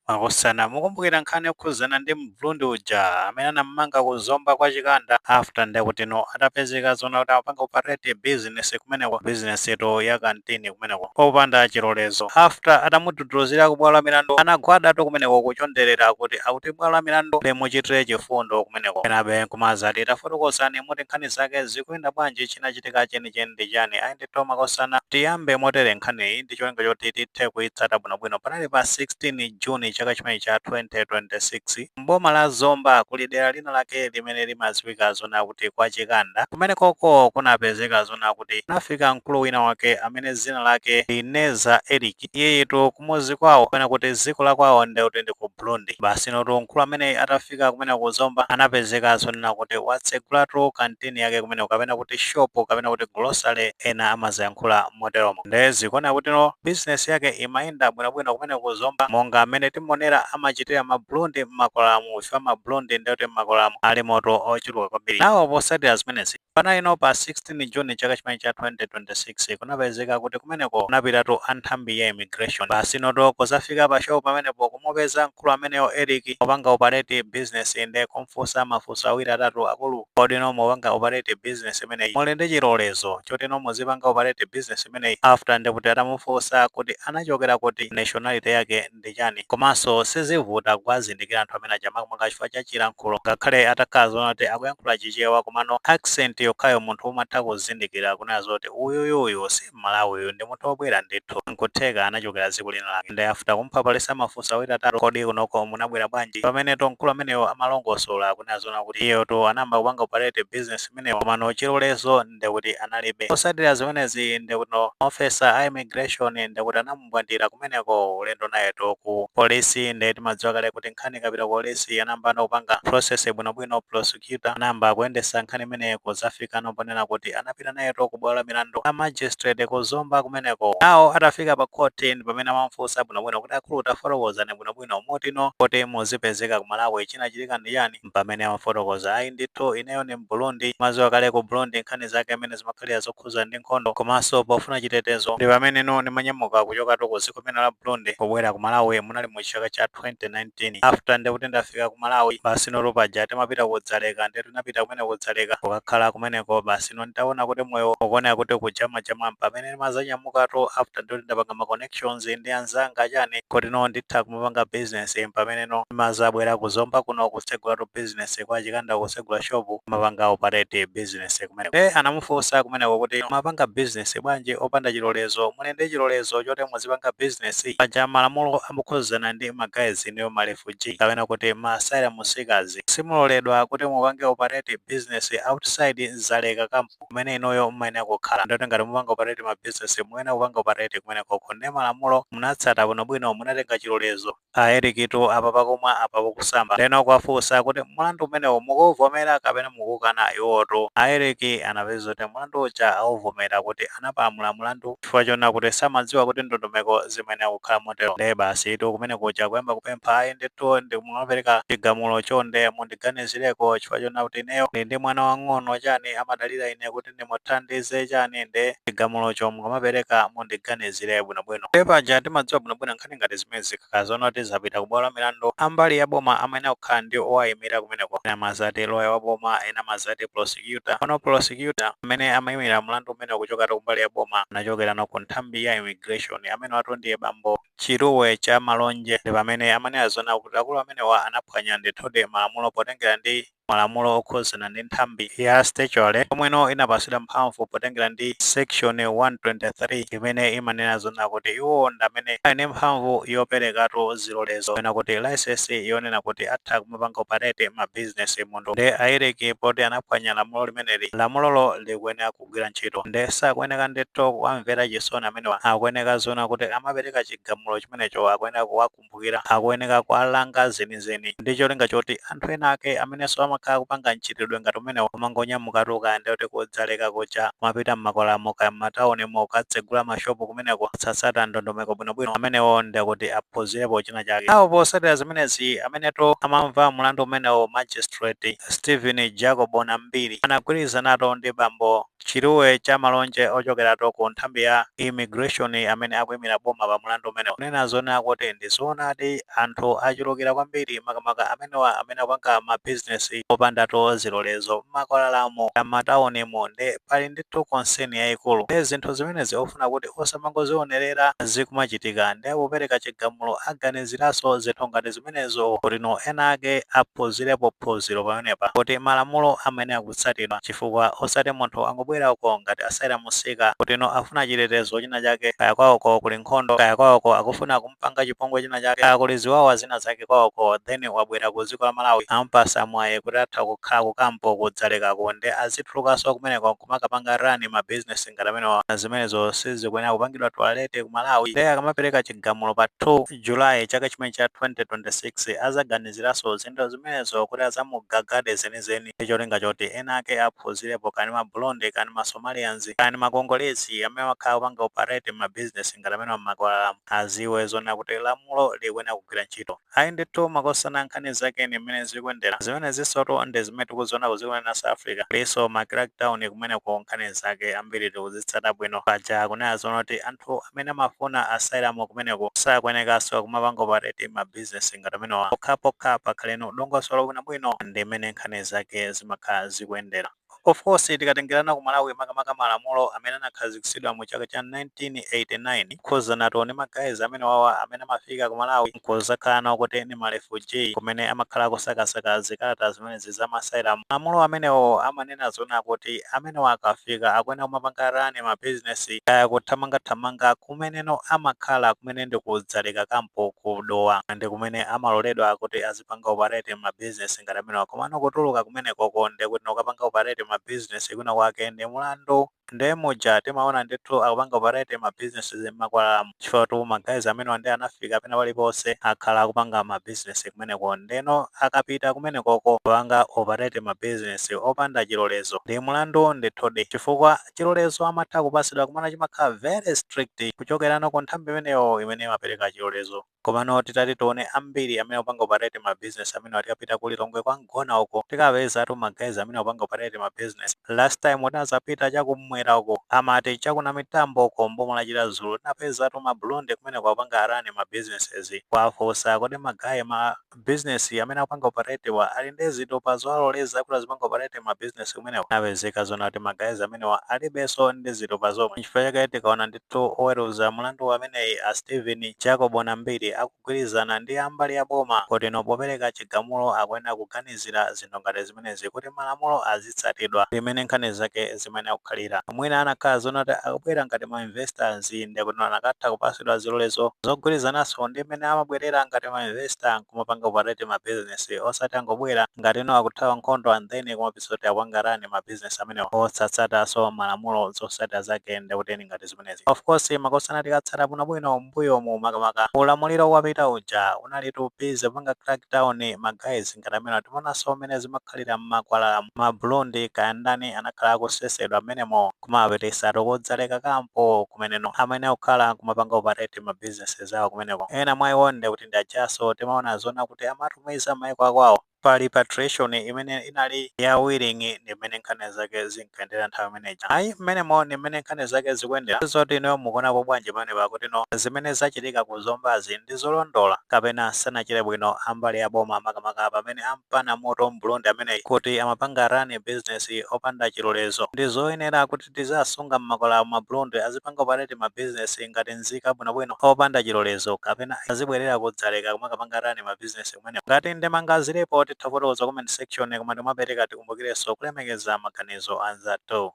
Makosana, mukumbukira nkhani yokhuzana ndi m'burundi uja amene anamumanga ku Zomba kwa Chikanda after ndekutino atapezeka zoona kuti amapanga operate business kumeneko business tu ya kantini kumeneko popanda chilolezo after atamudhudhuluzira ku bwalo la milandu anagwada tu kumeneko kuchonderera kuti akuti bwalo la milandu limuchitire chifundo kumeneko enabe nkumadzati tafotokozani muti nkhani zake zikuyenda bwanji chinachitika chenicheni ndi chani? Ayi ndi thu makosana. Tiyambe motere nkhaniyi ndi cholinga choti tithe kuyitsata bwinobwino. Panali pa 16 June chaka chimenechi cha 2026. M'boma la Zomba kuli dera lina lake limene limadziwika zonena kuti kwa Chikanda. Kumenekoko kunapezeka zonena kuti kunafika mkulu wina wake amene dzina lake ndi Ineza Eric. Iyeyitu kumudzi kwawo kapena kuti dziko lakwawo ndekuti ndi ku Burundi. Basinotu mkulu ameneyi atafika. atafika kumeneko ku Zomba anapezeka zonena kuti watsegulatu kantini yake kumene kapena kuti shop kapena kuti grocery ena amaziyankhula moteromo nde zikuoneka kuti no business yake imayenda bwinobwino kumene ku Zomba monga amene timonera amachitira ma burundi m'makwalalamu chifukwa ma burundi nde kuti m'makwalalamu alimotu ochuluka kwambiri nawo posatira zimenezi Panali no pa 16 June chaka chimenechi cha 2026 kunapezeka kuti kumeneko kunapitatu a nthambi ya immigration basinotu kuzafika pa shop pamenepo kumupeza mkulu ameneyo Eric opanga operate business nde kumfunsa mafunso awiri atatu akulu kodi inu mukupanga operate business imeneyi muli ndi chilolezo choti inu muzipanga operate business imeneyi after ndikuti atamufunsa kuti anachokera kuti nationality yake ndi chani komanso sizivuta kuwazindikira anthu amenewa makamaka chifukwa cha chilankhulo ngakhale atakhala zoona kuti akuyankhula chichewa komano accent yokhayo munthu umatha kuzindikira kunena zoti uyuyu uyu si mmalawi uyu ndi munthu obwera ndithu nkutheka anachokera dziko lina lake nde after kumuphaphalitsa mafunso awiri atatu kodi kunoko munabwera bwanji pamenetu mkulu ameneyo amalongosola kunena zoona kuti iyeyotu anayamba kupanga operate business imeneyo komano chilolezo ndekuti analibe. Posatira zimenezi ndekuti ma officer a immigration ndekuti anamumbwandira kumeneko ulendo nayetu ku police nde timadziwa kale kuti nkhani ikapita ku police anayambano kupanga process bwinobwino prosecutor anayamba kuyendesa nkhani imeneyi kuzafikano ponena kuti anapita nayetu ku bwalo la milandu la magistrate ku Zomba kumeneko. Nawo atafika pa court ndipamene amamufunsa bwinobwino kuti akulu tafotokozani bwinobwino muti no kuti muzipezeka ku Malawi chinachitika ndi chani? mpamene amafotokoza ayi ndithu ineyo ndi m'burundi mmadziwa kale ku burundi nkhani zake mmene zimakhalira zokhuza ndi nkhondo komanso pofuna chitetezo ndi pameneno ndimanyamuka kuchokatu ku dziko limene la burundi kubwera ku malawi munali mu chaka cha 2019 after ndekuti ndafika ku malawi basi notu paja timapita ku dzaleka ndetu ndinapita kumene ku dzaleka kukakhala kumeneko basi no nditaona kuti moyo ukuoneka kuti kujamajama mpamene ndimazanyamukatu after ndekuti ndapanga makone connections ndi anzanga chani kuti no nditha kumapanga business mpameneno ndimazabwera ku zomba kuno kutsegulatu business kwa chikanda kutsegula shop kumapanga operate business kumeneko nde anamufunsa kumeneko kuti mapanga business bwanji opanda chilolezo muli ndi chilolezo choti muzipanga business paja malamulo okhuzana ndi ma guys inuyo ma refugee kapena kuti ma asylum seekers simuloledwa kuti mupange operate business outside Dzaleka kampu kumene inuyo mumayenera kukhala ndoti ngati mupanga operate ma business mukuyenera kupanga operate kumenekoko nde malamulo munatsata bwinobwino munatenga chilolezo a erikitu apa pakumwa apa pakusamba ndeno akuwafunsa kuti mlandu umenewu mukuwuvomera kapena mukuwukana iwowotu a eriki anapeza kuti mlandu uja awuvomera kuti anapalamula mlandu chifukwa chonena kuti samadziwa kuti ndondomeko zimayenera kukhala motero nde basitu kumene kuja kuyamba kupempha ayi ndithu mukamapereka chigamulo chonde mundi ndiganizireko chifukwa chonena kuti ineyo ndili ndi mwana wang'ono chani amadalira ine kuti ndimuthandize chani nde chigamulocho mukamapereka mundiganizire bwinobwino nde paja timadziwa bwinobwino nkhani ngati zimenezi zikakhala zonoti zapita ku bwalo la milandu a mbali ya boma amayenera kukhala ndi owayimira kumeneko ena amazati loya wa boma ena amazati prosecutor pano prosecutor amene amayimira mlandu umenewo kuchokera ku mbali ya boma anachokerano ku nthambi ya immigration amenewatu ndiye bambo Chiluwe Chamalonje ndi pamene amanena zonena kuti akulu amenewa anaphwanya ndithudi malamulo potengera ndi malamulo okhuzana ndi nthambi ya statutory yomweno inapatsidwa mphamvu potengera ndi section 123 imene imanena zonena kuti iwo ndi amene ali ndi mphamvu yoperekatu zilolezo kapena kuti licence yonena kuti atha kumapanga operate ma business munthu nde a Eric poti anaphwanya lamulo limeneli lamulolo likuyenera kugwira ntchito nde sakuyeneka ndithu kuwamvera chisoni amenewa akuyeneka zonena kuti akamapereka chigamulo chimenecho akuyeneka kuwakumbukira akuyeneka kuwalanga zenizeni ndi cholinga choti anthu ena ake amenenso amakhala akupanga mchitidwe ngati umenewo kumangonyamukatu kaya ndi kuti ku Dzaleka kuja kumapita m'makwalalamo kaya m'mataunimo kukatsegula mashopu kumeneko osatsata ndondomeko bwinobwino amenewo ndekuti aphunzirepo china chake awo posatira zimenezi amenetu amamva mlandu umenewo magistrate Steven Jacob Nambiri anagwirizanatu ndi bambo Chiluwe Chamalonje ochokeratu ku nthambi ya Immigration amene akuimira boma pa mlandu umenewu kunena zonena kuti ndi zoonadi anthu achulukira kwambiri makamaka amenewa amene akupanga ma business opandatu zilolezo m'makwalalamu kaya m'mataunimu nde pali ndithu concern yaikulu nde zinthu zimenezi ofuna kuti osamangozionerera zikumachitika nde popereka chigamulo aganiziranso zinthu ngati zimenezo kuti no ena ake aphuzilepo phuzilo pamenepa kuti malamulo amayenera kutsatidwa chifukwa osati munthu angobwera uko ngati asylum seeker kuti no afuna chitetezo china chake kaya kwaoko kuli nkhondo kaya kwaoko akufuna kumpanga chipongwe china chake kaya kuli ziwawa zina zake kwaoko then wabwera ku ziko la malawi ampasa mwayi kuti atha kukhala ku kampo ku dzalekako nde azitulukaso kumeneko nkumakapanga run ma business ngati amenewa zimenezo sizikuyenera kupangidwa tolerate ku malawi nde akamapereka chigamulo pa 2 July chaka chimene cha 2026 azaganiziranso zinthu zimenezo kuti azamugagade zenizeni ndi cholinga choti ena ake aphuzirepo kaya ndi ma Burundi kaya ndi ma Somalians kaya ndi ma Congolese amene amakhala akupanga operate mma business ngati amenewa mmakwalalamu aziwe zoona kuti lamulo likuyenera kugwira ntchito. Ayi ndithu makosana nkhani zake ndi mmene zikuyendera zimenezisotu nde zimene tikuziona ku dziko limenelo la South Africa kulinso ma crackdown kumeneko nkhani zake ambiri tikuzitsata bwino paja akunena zoona kuti anthu amene amafuna asylum kumeneko sakuenekaso kumapanga operate ma business ngati amenewa pokhapokha pakhaleno dongosolo bwinobwino ndi mmene nkhani zake zimakhala zikuendera. Of course tikatengerana ku Malawi makamaka malamulo amene anakhazikisidwa mu chaka cha 1989 kukhuzanatu ndi ma guys amenewawa amene amafika ku Malawi nkuzakhala nawo kuti ndi ma refugee kumene amakhala akusakasaka zikalata zimenezi za ma asylum. Malamulo amenewo amanena zoona kuti amenewa akafika akuyenera kumapanga run ma business kaya kuthamangathamanga kumeneno amakhala kumene ndi ku Dzaleka camp ku Dowa ndi kumene amaloledwa kuti azipanga operate ma business ngati amenewa komano kutuluka kumenekoko ndekuti no kukapanga operate ma business kwina kwake ndi mulandu Nde muja timaona ndithu akupanga operate ma businesses mmakwalalamu chifukwatu ma guys amenewa nde anafika pena paliponse akhala akupanga ma business kumeneko ndeno akapita kumenekoko kupanga operate ma business opanda chilolezo ndi mulandu ndithudi chifukwa chilolezo amatha kupasidwa komano chimakhala very strict kuchokerano ku nthambi imeneyo imene imapereka chilolezo. Komano titati tione ambiri amene akupanga operate ma business amenewa tikapita ku Lilongwe kwa Mgona uko tikapezatu ma guys amene akupanga operate ma business. Last time tinazapita cha kum'mwera uko amati cha ku Namitambo uko m'boma la Chiradzulu tinapezatu ma Burundi kumeneko akupanga run ma businesses. Kuwafunsa kodi ma guy ma business amene akupanga operate wa ali ndi zitupa zowaloleza kuti azipanga operate ma business kumeneko zinapezeka zoona kuti ma guys amenewa alibenso ndi zitupa zomwe nchifukwa chake tikaona ndithu oweruza mulandu wa ameneyu a Steven Jacob Nambiri akugwirizana ndi ambali ya boma kuti no popereka chigamulo akuyenera kuganizira zinthu ngati zimenezi kuti malamulo azitsatidwa ndi mmene nkhani zake zimayenera kukhalira. Mwina anakhala zoona kuti akubwera ngati ma investors ndiye kuti anakatha kupatsidwa zilolezo zogwirizananso ndi mmene amabwerera ngati ma investor n'kumapanga operate ma business osati angobwera ngati no akuthawa nkhondo and then kumapezeka kuti akupanga run ma business amenewo osatsatanso malamulo. Zotsatira zake ndiye kuti ngati zimenezi. Of course makosana tikatsata bwinobwino mmbuyomu makamaka ulamuliro wapita uja unalitu busy kupanga crack down ma guys ngati amenewa. Timaonanso mmene zimakhalira mmakwalala. Ma Burundi kaya ndani anakhala akusesedwa mmenemo kumawapititsatu ku Dzaleka-kampu kumeneno. Amene akukhala kumapanga operate ma businesses awo kumeneko ena mwa iwo ndekuti ndi ajanso timaona zoonadi kuti amatumiza mmaiko akwawo. pa repatriation imene inali ya willing ndi mmene nkhani zake zinkayendera nthawi imeneja ayi mmenemo ndi mmene nkhani zake zikuyendera zoti inuyo mukuonapo bwanji pamene pakutino zimene zachitika ku Zombazi ndi zolondola kapena sanachite bwino ambali ya boma makamaka pamene ampana moto m'Burundi ameneyi kuti amapanga run business opanda chilolezo ndi zoyenera kuti kuti tiziasunga mmakwalala ma Burundi azipanga operate ma business ngati nzika bwino bwino opanda chilolezo kapena azibwerera ku Dzaleka kumakapanga run ma business kumeneko? Ngati ndemanga zilipo titha kufotokoza comment section koma tikamapereka tikumbukirenso kulemekeza maganizo anzathu.